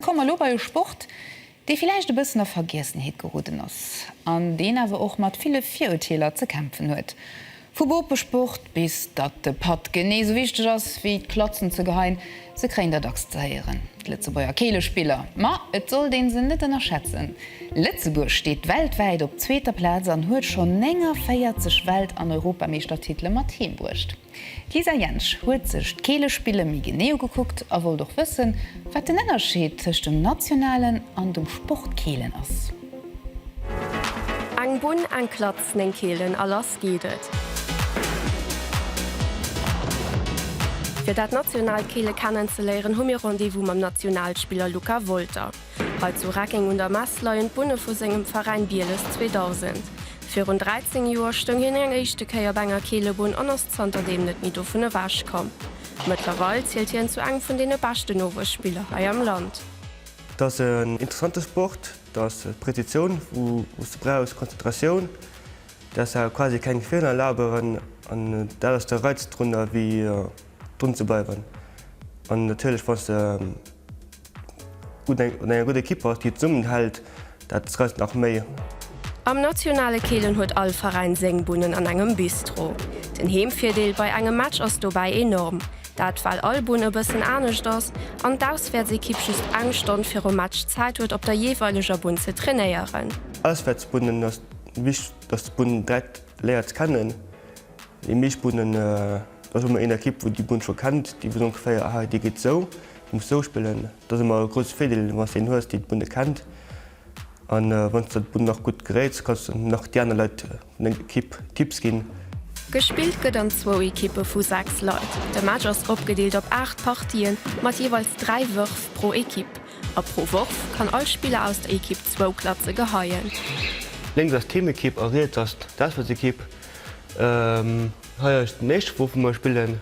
Komme mer elo bei e Sport, dee villäicht e bëssen a Vergiessenheet geroden ass, an deen awer och mat ville Virurteeler ze kämpfen huet. Vu Bopesport bis datt de Patt genee sou wichteg ass wéi d'Klatzen ze geheien, se kréien der dacks ze héieren, d'Lëtzebuerger Keelespiller. Ma et sollt ee se net ënnerschätzen. Lëtzebuerg steet weltwäit op zweeter Plaz an huet schonn 49 Welt an Europameeschtertitele mat heem bruecht. D'Lisa Jentsch huet sech d'Keelespille méi genee ugekuckt a wollt och wëssen, wat den Ënnerscheed tëscht dem nationalen an dem Sportkeelen ass. Eng Bunn, eng Klatz, néng Keelen a lass geet et! Fir dat nationaalt Keele kennen ze léieren, hu mir Rendez-vous mam Nationalspiller Luca Wolter. Hei zu Reckeng un der Mess leien d'Bunne vu sengem Veräin Bieles 2000. Virun 13 Joer stoung hien eng éischte Kéier op enger Keelebunn an ass zanter deem net méi dovun ewech komm. Mëttlerweil zielt hien zu engem vun deene beschten Nowuesspiller hei am Land. Et ass en interessante Sport, et ass Präzitioun wou s de brauchs, Konzentratioun, däers awer quasi keng Feeler erlaben an dat ass de Reiz drunner wéi drun ze bleiwen an natierlech wann s de Un enger gudder Kipper, déi zesummen hält, dat reist nach méi. Am nationale Keelen huet all Veräin seng Bunnen an engem Bistro. Den Heemvirdeel bei engem Match ass dobäi enorm, dat well all Bunn e bëssen anescht ass an d'Auswäertsekipp just eng Stonn virum Match Zäit huet op der jeeweileger Bunn ze trainéieren. Auswäertsbunnen ass wichteg, dass d'Bunn direkt léiert ze kennen. Déi meescht Bunnen, do hu mer een Ekipp wou déi Bunn scho kennt, déi weess ongeféier, ah déi geet esou. Muss sou spillen. Dass emmer e grousse Virdeel wanns een hues déi d'Bunne kennt an wanns der d'Bunn nach gutt geréits kanns de nach déi aner Leit vun enger Ekipp Tipps ginn. Gespillt gëtt an zwou Ekippe vu 6 Leit. De Match ass opgedeelt op 8 Partien mat jeeweils 3 Wërf pro Ekipp a pro Worf kann all Spiller aus der Ekipp zwou Klatze geheien. Lénks ass d'Heemekipp a riets ass d'Auswäertsekipp. Hei ass den éischte Wurf wou mer spillen.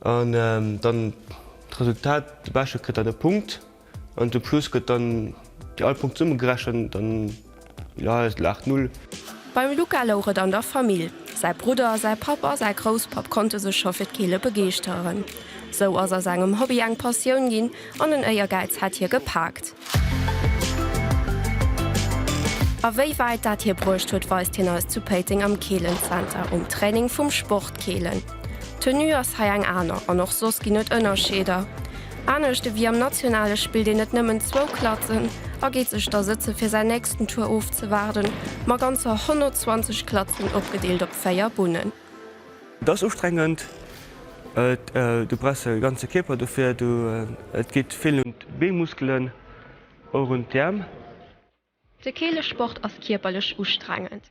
An dann d'Resultat, de Beschte kritt dann e Punkt an zum Schluss gëtt dann déi all Punkte zesummegerechent an jo, et laacht null. Beim Luca louch et an der Famill. Säi Brudder, säi Papp a säi Grousspapp konnte sech scho fir d'Keele begeeschteren. Sou ass aus engem Hobby eng Passioun ginn an en Éiergäiz hat hie gepaakt. A wéi wäit dat hie bruecht huet, weist hien eis zu Péiteng am Keelenzenter um Training vum Sport Keelen. D'Tenue ass hei eng aner an och soss ginn et Ënnerscheeder. Anescht ewéi am Nationale spillt een net nëmmen zwou Klatzen a geet sech da sëtze fir säin nächsten Tour ofzewaarden, ma ganzer 120 Klatzen opgedeelt op véier Bunnen. Et ass ustrengend, du brauchs e ganze Kierper dofir, et geet vill un d'Beemuskelen, och un d'Äerm. De Keelesport ass kierperlech ustrengend,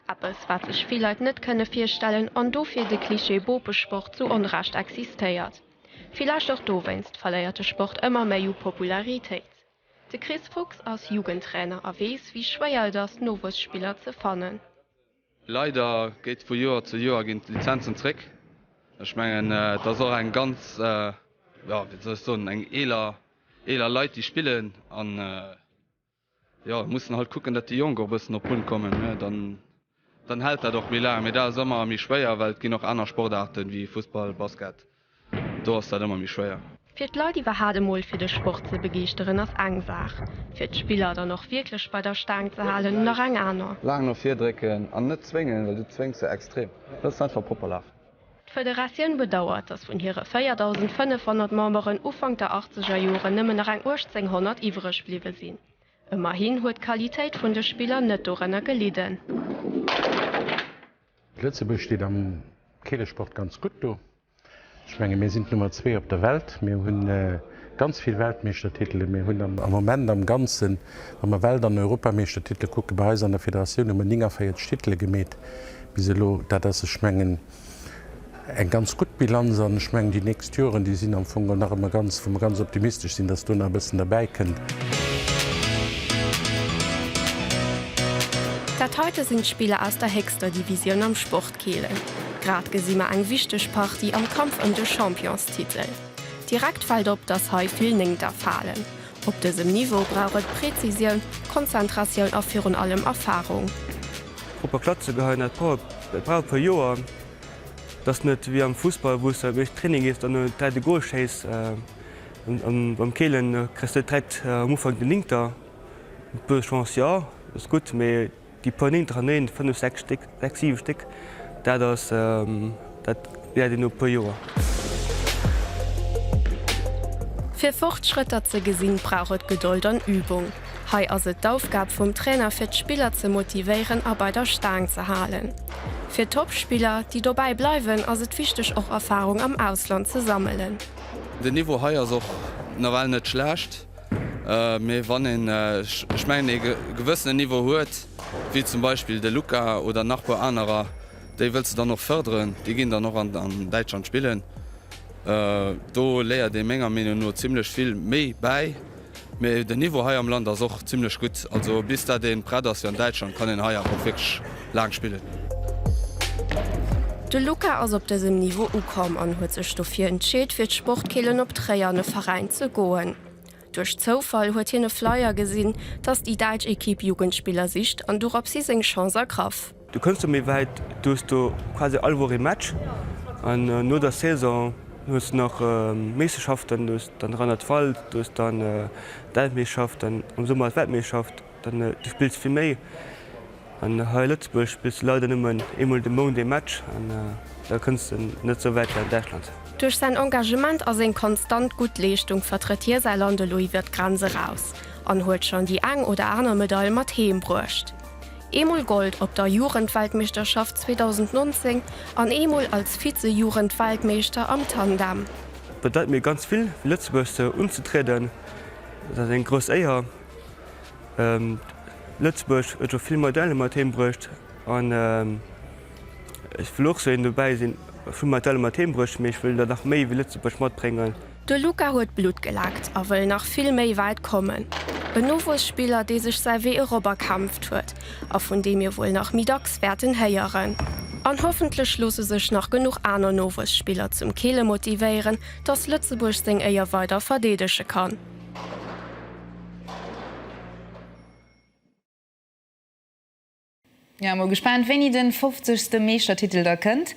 eppes wat sech vill Leit net kënne virstellen an dofir de Cliché Bopesport zu Onrecht existéiert. Villäicht och dowéinst verléiert de Sport ëmmer méi u Popularitéit. De Chris Fuchs ass Jugendtrainer a weess wéi schwéier et ass Nowuesspiller ze fannen. Leider geet vu Joer zu Joer ginn d'Lizenzen zréck. Ech mengen et ass och eng ganz, jo wéi soll ech soen, eng eeler eeler Leit déi spillen an jo mussen halt kucken dat déi Jonk och e bëssen op Punkt kommen ne dann dann hält dat och méi laang. Mee dat ass ëmmer méi schwéier well et ginn och aner Sportaarten wéi Fussball, Basket. Do ass dat ëmmer méi schwéier. Fir d'Leit iwwerhat emol fir de Sport ze begeeschteren ass eng Saach, fir d'Spiller dann och wierklech bei der Staang ze halen nach eng aner. Laang no vir drécken an net zwéngen, well du zwéngs se extrem. Looss se einfach propper lafen. D'Federatioun bedauert, datt vun hire 4.500 Memberen Ufank der achtzeger Joren nëmmen nach eng 1.800 iwwereg bliwwe sinn. Ëmmerhin huet d'Qualitéit vun de Spiller net dorënner gelidden. Lëtzebuerg steet am Keelesport ganz gutt do. Ech menge mir sinn d'Nummer zwee op der Welt. Mir hu ganz vill Weltmeeschtertitele. Mir hunn am Moment am Ganzen, wa mer Welt an Europameeschtertitele kucke bei eis an der Federatioun, hu mer 49 Titele gemeet bis elo. Dat ass, ech mengen, eng ganz gutt Bilanz an ech mengen déi nächst Joren, déi sinn am Fong nach ëmmer ganz, wou mer ganz optimistesch sinn, dass do nach e bëssen derbäi kënnt. Dat heite sinn d'Spiller aus der héchster Divisioun am Sport Kielen. Grad gesi mer eng wichteg Partie am Kampf ëm de Championstitel. Direkt fält op, dass hei vill Néngter falen. Op dësem Niveau brauch et Prezisioun, Konzentratioun a virun allem Erfarung. D'Gruppe Klatze geheien hat brauch e puer Joer, T'ass net wéi am Fussball wou's de méchs Training gees an no 3 de Goal schéiss an beim Keelen kriss de direkt am Ufank den Ninter. Eng puer Chance jo ass gutt mee déi puer Ninter an Néint, 5, 6 Stéck, 6, 7 Stéck, dat ass dat läert een no puer Joer. Fir Fortschrëtter ze gesinn brauch et Gedold an Übung. Hei ass et d'Aufgab vum Trainer fir d'Spiller ze motivéieren a bei der Staang ze halen. Fir Topspiller, déi dobäi bleiwen, ass et wichteg och Erfarung am Ausland ze sammelen. Den Niveau hei ass och nawell net schlecht, mee wann een, ech mengen, ee gewëssenen Niveau huet, wéi zum Beispill de Luka oder nach puer anerer, déi wëlls de dann och fërderen, déi ginn dann och an Däitschland spillen. Do léiert ee menger Meenung no zimmlech vill méi bäi. Mee den Niveau hei am Land ass och zimlech gutt. Also bis dat een prett ass fir an Däitschland kann een hei awer och wierklech laang spillen. De Luca ass op dësem Niveau ukomm an huet sech dofir entscheet fir d'Sportkeelen op Tréier an e Veräin ze goen. Duerch Zoufall huet hien e Flyer gesinn, dass déi däitsch Ekipp Jugendspiller sicht an dorops hi seng Chance ergraff. Du kënns do méi wäit, du hues do quasi all Woch ee Match an no der Saison hues du nach Meeschterschaften, du hues dann Rheinland-Pfalz, du hues dann d'Weltmeeschterschaft, dann am Summer ass d'Weltmeeschterschaft, dann du spills vill méi. An hei a Lëtzebuerg spills du leider nëmmen eemol de Mount ee Match an da kënns de net esou wäit wéi an Däitschland. Duerch säin Engagement a seng konstant gutt Leeschtung vertrëtt hie säi Land elo iwwer d'Grenz eraus an huet schonn déi eng oder aner Medail mat heem bruecht. eemol Gold op der Jugendweltmeeschterschaft 2019 an eemol als Vize-Jugendweltmeeschter am Tandem. Bedeit mir ganz vill fir Lëtzebuerg sou unzetrieden. Et ass eng grouss Éier. Lëtzebuerg huet scho vill Medaile mat heem bruecht an ech wëll och sou een dobäi sinn. Ech hu Medaile mat heem bruecht, mee ech wëll der nach méi wéi Lëtzebuerg matbréngen. De Luka huet Blutt geleckt a wëll nach vill méi wäit kommen. En Nowuesspiller, dee sech säi Wee erop erkämpft huet a vun deem mir wuel nach méi dacks wäerten héieren. An hoffentlech loosse sech nach genuch aner Nowuesspiller zum Keele motivéieren, datt Lëtzebuerg seng Éier weider verdeedege kann. Mir si mol gespaant wéini den 50 ste Meeschtertitel da kënnt.